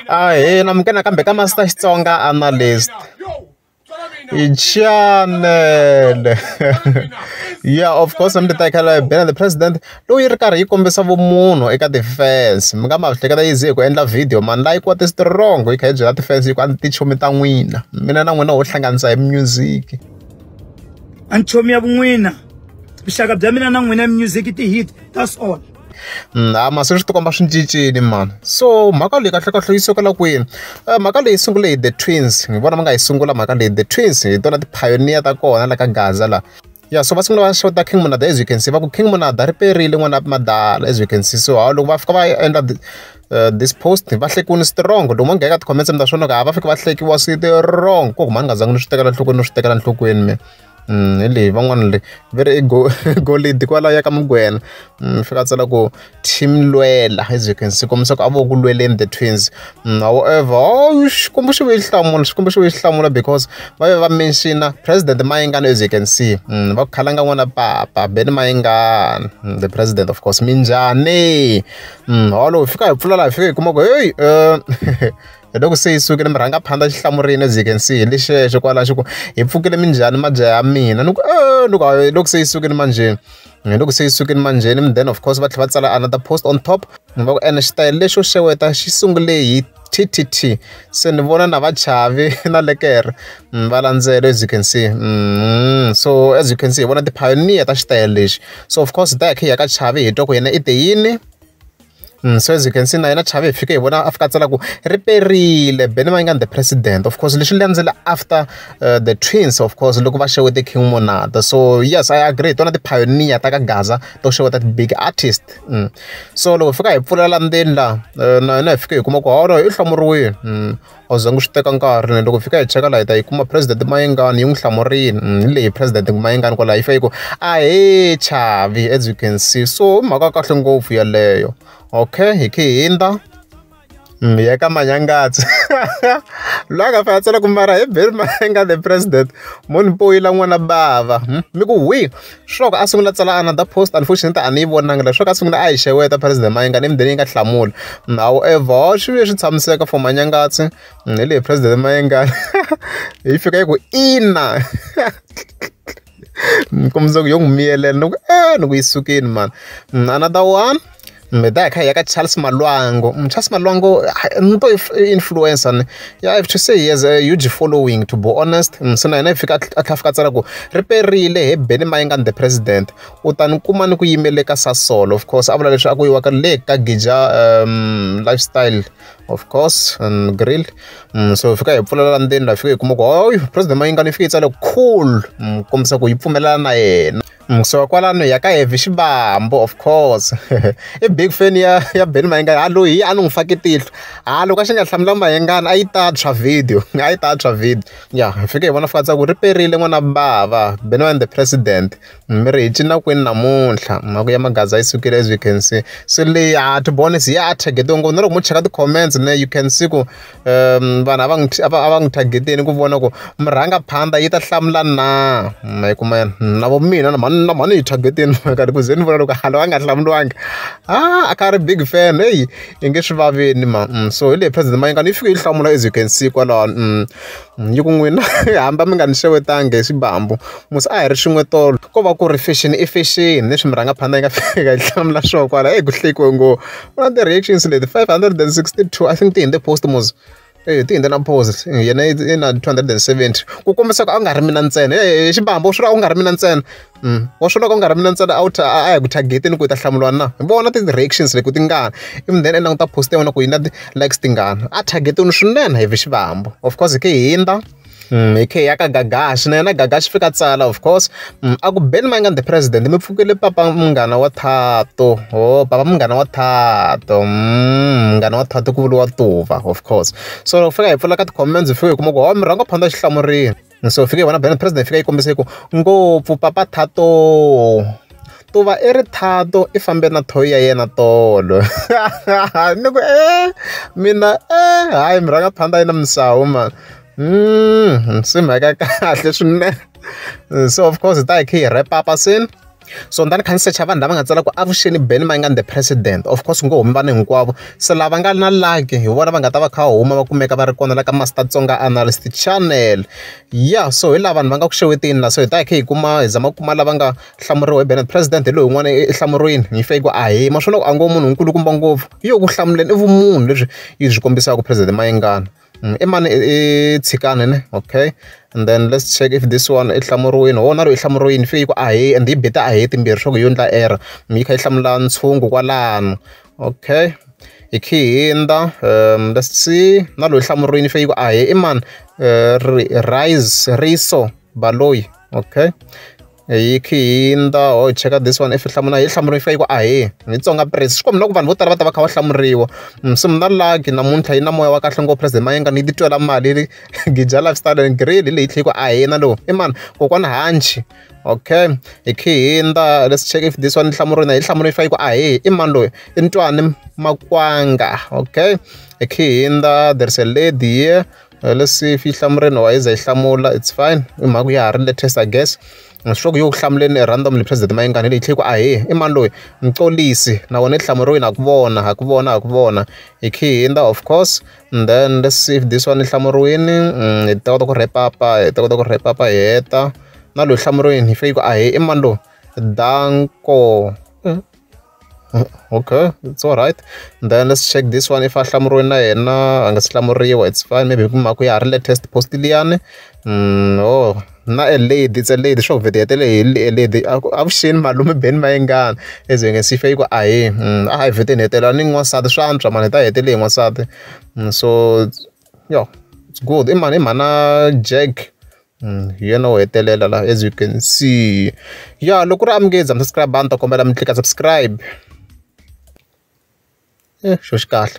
a hi na mi kena kambe ka masita xitsonga analyst chanele yeah of course mi titekela bena the president loyi ri karhi yi kombisa vumunhu eka ti-fans mi nga ma hleketa yi ze hi ku endla video mani layi kuwa ti-strong yi kha yi byela ti-fans yi ku a ni tichomi ta n'wina mina na n'wina ho hlanganisa hi music a nchomi ya vun'wina vuxaka bya mina na n'wina music ti-hit that's all mhani se swi ti komba swi cincile mhani so mhaka leyi kahlekahle yi sukela kwini mhaka leyi sungule hi the twins hi vona va nga yi sungula mhaka leyi the twins hi tona ti-pioneer ta kona la ka gaza laha ya so va sungula va xota king monada as you can see va ku king monada ri perile n'wana madala as you can see so hawu loko va fika va endla uh, this post va hlekuni strong loko mo ngheka ti-comments mi ta swona ku a va fike va hlekiwa swi ti wrong ko ku mhani nga zangi ni swi tekela nhlokweni ni swi tekela nhlokweni mina hi leyi van'wana le va ri go golidi kwalaya ya ka mugwena ni fika a tsala ku team lwela as you can see kombisa ku a vo ku lweleni the twins however oh, xikwembu xi ve xi hlamula xikwembu xi ve xi hlamula because va ve va menxina president mayingana as you can see mm, va ku khalanga n'wana papa beni mayingana mm, the president of course minjhani mm, holo hi fika hi pfula laha hi fika hi kuma ku heyi eh, hi loko se yi sukile mi rhanga phanda xi hlamurile as you can see hi le xexo kwalaho xi ku hi pfukile minjhani mabya ya mina ni ku eh, ni ku hi loko se yi sukile manjheni hi loko se yi sukile manjheni mi then of course va tlhela va tsala another post on top ni va ku ene xitayele lexo xeweta xi sungule hi ttt se ni vona na vachavi na lekere mm, va landzela as you can see mm, so as you can see hi vona ti-pioneer ta xitayele lexi so of course hi ta ya khe hi ya ka chavi hi twa ku yena i te yini Mm, so as you can see na yena chave hi fike hi vona a fika a tsala ku ri perile beni va inga the president of course leswi landzela after uh, the twins of course loko va xewete king monada so yes i agree hi tona ti-pioneer ta ka gaza to xeweta ti-big artist mm. so loko hi fika hi pfulela ndzeni la uh, na yena hi fike hi kuma ku holo i hlomuriwile mm. a wu zangi u swi teka nkarhi ne loko hi fika hi cheka laha hi ta yi kuma president mayengani yi n'wi hlamurile mm, hi leyi president mayengani kwalaho yi fika yi ku ahee chavi as you can see so i mhaka kahle ngopfu yeleyo okay hi khe hindza mm, hi ya ka manyangatsi loyi a nga fanele a tsala ku mara hi beri mayenga the president munhu poyila n'wana bava hmm? mi ku hwi Sure a sungula tsala another post unfortunately a ni yi vonanga leswaku a sungula a hi xeweta president Mayenga ni mudeni yi nga hlamula however swi vuye swi tshamiseka for manyangatsi hi leyi president Mayenga yi fika yi ku ina ni kombisa ku yo n'wi miyelela ni ku e ni ku yi sukini mani another one meda hi kha hi ya ka charles malwango mm, charles malwango ni to influencer ni ya have to say he has a huge following to be honest mm, se na yena yi fika a tlha fika tsala ku ri perile he beni mayingani the president u ta ni kuma ni ku yimele ka sasolo of course a vula leswi a ku yiwaka le ka gija um, lifestyle of course and grill mm, so fika hi pfulela ndzeni la fika hi kuma ku hoy president mayingani yi fike yi tsale cool mm, kombisa ku yi pfumelelana na yena Musi wa kwalano hi ya ka Heavy Xivambu of course i big fan ya ya Benny Mayengani a loyi a ni n'wi fake tihlo ha loko a xi nga hlamula Mayengani a yi ta tshwa video a yi ta tshwa video ya hi fike hi vona fika tsaka ku ri perile n'wana bava Benny Mayengani the president mi ri hi cina kwini namuntlha mhaka ya magaza yi sukile as you can see so leyi a ti voni se ya a target-iwe ngopfu na loko mo cheka ti-comments ne you can see ku vanhu a va n'wi a va a va n'wi target-eni ku vona ku murhangaphandza yi ta hlamula na ma yi kuma na vo mina na mhani na mhani hi target-ini nkarhi ku ze ni vona loko a loyi a nga hlamuriwanga a a kha a ri big fan heyi i nge swi vaveni mhani so hi leyi president Mayengani yi fike yi hlamula as you can see kwalano . Yi ku n'wina hamba mi nga ni xewetanga hi xivambu musi a hi ri swin'we tolo ko va ku ri fashion i fashion leswi mi rhanga phanda yi nga fika hi hlamula swo kwala heyi ku hlekiwe ngo u na ti-reactions leti five hundred and sixty two I think ti hundze post mos eya ti hundze na post yena i na two hundred and seventy ku kombisa ku a ku nga ri mina ntsena hi xivambu swi vula a ku nga ri mina ntsena. Mm. wa swi loko u nga ri mina ntsena a wu a ya ku targeteni ku u ta hlamuriwa na vona ti-reactions leti ku ti ngani even then endla ku ta post ya wena ku yi na ti-likes tingani a targetini swinene hi vi xivambo of course hi ke hindza Mm, hi khe ya ka gagashi na yena gagashi fika tsala of course mm, a ku beni ma nga the president mi pfukile papa munghana wa thato o oh, papa munghana wa thato mm, munghana wa thato ku vuriwa tuva of course so fika hi pfula ka ti-comments hi fika hi kuma ku ho oh, mi rhanga phanda xihlamurini so fike vona bena president fika yi kombisa yi ku ngopfu papa thato to va i ri thato i fambe na thoyi ya yena tolo ni ku e mina e hayi mi rhanga phanda yi na misawu ma mm, se mhaka kahle swinene so of course hi ta hi khe hi repapa sini so ndani kha ni secha vanhu lava nga tsala ku avuxeni ben ma nga the president of course ngo humi vanhu hinkwavo se lava nga na laki hi vona va nga ta va kha huma va kumeka va ri kona la ka master tsonga analyst channel ya so hi lava vanhu va nga ku xewetini la so hi ta hi kha hi kuma hi zama ku kuma lava nga hlamuriwa hi ben president hi loyi n'wana ehlamuriweni hi fake ku ahi ma swo loko a ngo munhu nkulukumba ngopfu hi yo ku hlamuleni i vumunhu lebyi yi byi kombisaka president mayengana Mm, i mani i tshikani ne okay and then let's check if this one i hlamuriwini ho na ro i hlamuriwini fe yi ku ahe and yi beta ahe timbirhi swa ku yo ndla error mi yi kha yi hlamula ntshungu kwalano okay hi khi hindza um let's see na loyi hlamuriwini fe yi ku ahe i mani uh, rise riso baloyi okay hi khi hindza ho hi cheka this one if hi hlamula hi hlamuriwa yi fika yi ku a hi hi tsonga press swi kombi na ku vanhu vo tala va ta va kha va hlamuriwa mm, so mna lagi namuntlha yi na moya wa kahle ngopfu president mayenga ni yi titwela mali gija lifestyle and grill hi leyi tlhe yi ku a hina lowu i mani kokwana hanchi okay hi khi hindza let's check if this one hlamuriwina hi hlamuriwa yi fika yi ku a hi i mani loyi i ntwani makwanga okay hi khi hindza there's a lady here Leswi yi hlamuriwile or yi ze yi hlamula it's fine i mhaka ya ha ri latest I guess. Swi tiva ku yi ku hlamuleni randomly President Mayengani leyi tlhela yi ku ahee i mani loyi Mxolisi na wena i hlamuriwile ha ku vona ha ku vona ha ku vona hi khe hi hundza of course and then let's see if this one yi hlamuriwile hi ta kota ku wrap up hi ta kota ku wrap up hi heta na loyi hlamuriwile yi fane yi ku ahee i mani loyi Danko. Okay it's alright then let's check this one if a hlamuriwe na yena a nga si hlamuriwa it's fine maybe hi ku mhaka ku ya ha ri latest post liyani oh na a lady it's a lady sure video yatele hi lady avuxeni malume beni mayengani as you can see fe yi ku ahi a hi video ni hetelela ni n'wansati swa antswa mani hi ta hetele hi n'wansati so yo it's good i mani i mhana jack hi yena wo hetelela la as you can see ya loko ri amukeza mi subscribe ni ta kombela mi tlika subscribe e xo xi kahle